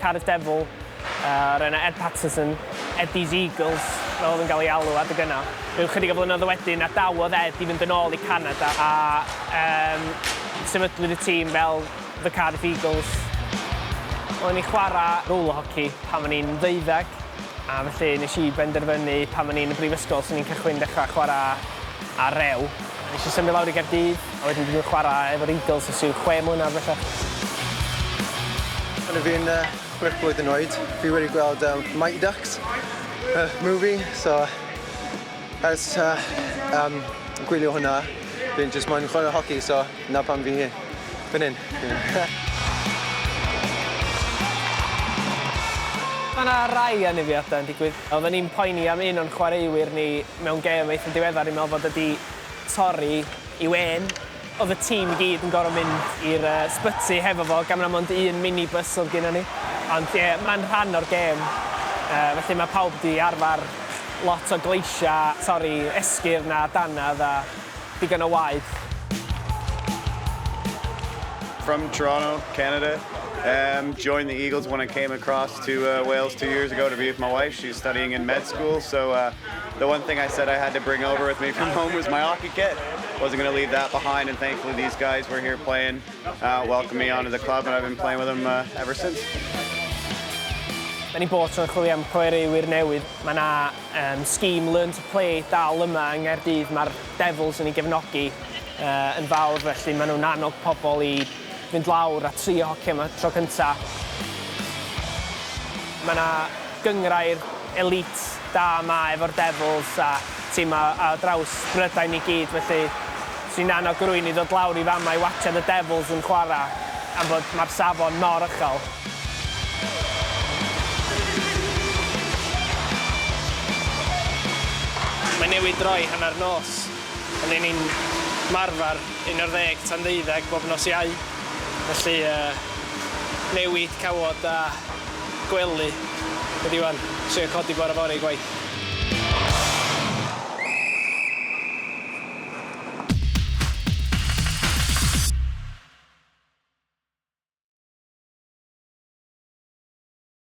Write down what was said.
Cardiff Devil, yr enw Ed Patterson, Eddie's Eagles, fel oedd yn cael ei alw adeg yna. Rhyw chydig o flynyddoedd wedyn, adawodd Ed i fynd yn ôl i Canada a um, sefydlwyd y tîm fel The Cardiff Eagles. Oedden ni chwarae roller hockey pan o'n i'n ddeuddeg, a felly nes i benderfynu pan o'n i'n y brifysgol sy'n ni'n cychwyn dechrau chwarae ar rew. Nes i symud lawr i Gaerdydd A wedyn dwi 'di chwarae efo'r Eagles ers ryw chwe mlynedd bellach. O'n i'n chwech blwyddyn oed, fi wedi gweld yym Mighty Ducks, y movie, so ers yym gwylio hwnna fi'n jyst moyn chwarae hoci so 'na pam fi fan hyn. Ma' 'na rai anafiadau'n digwydd. Oedden ni'n poeni am un o'n chwaraewyr ni mewn gêm eitha diweddar, fi'n meddwl fod e 'di torri i wên. Oedd y tîm i gyd yn gorfod mynd i'r sbyty hefo fo gan bod 'na mond un mini bus oedd gynnon ni. Ond ie, mae'n rhan o'r gêm. Felly mae pawb wedi arfer lot o gleisiau, torri esgyrn a dannedd a digon o waed. From Toronto, Canada. Erm joined the Eagles when I came across to Wales two years ago to be with my wife, she's studying in med school, so uh The one thing I said I had to bring over with me from home was my hockey kit. Wasn't going to leave that behind, and thankfully these guys were here playing, uh, welcomed me onto the club, and I've been playing with them uh, ever since. Mae ni bod yn chwilio am chwaraewyr newydd. Mae yna um, scheme Learn to Play dal yma yng Nghaerdydd. Mae'r Devils yn ei gefnogi uh, yn fawr, felly maen nhw'n annog pobl i fynd lawr a trio hoci am y tro cynta'. Mae 'na gynghrair elît da 'ma efo'r Devils a timau ar draws Brydain i gyd felly 'swn i'n annog rywun i ddod lawr i fama i watsiad y Devils yn chwarae am fod mae'r safon mor uchel. Mae newid droi hanner nos. Ry'n ni'n ymarfer un ar ddeg tan ddeuddeg bob nos Iau, felly newid cawod a gwely ydi ŵan, trio codi bore fory i gwaith.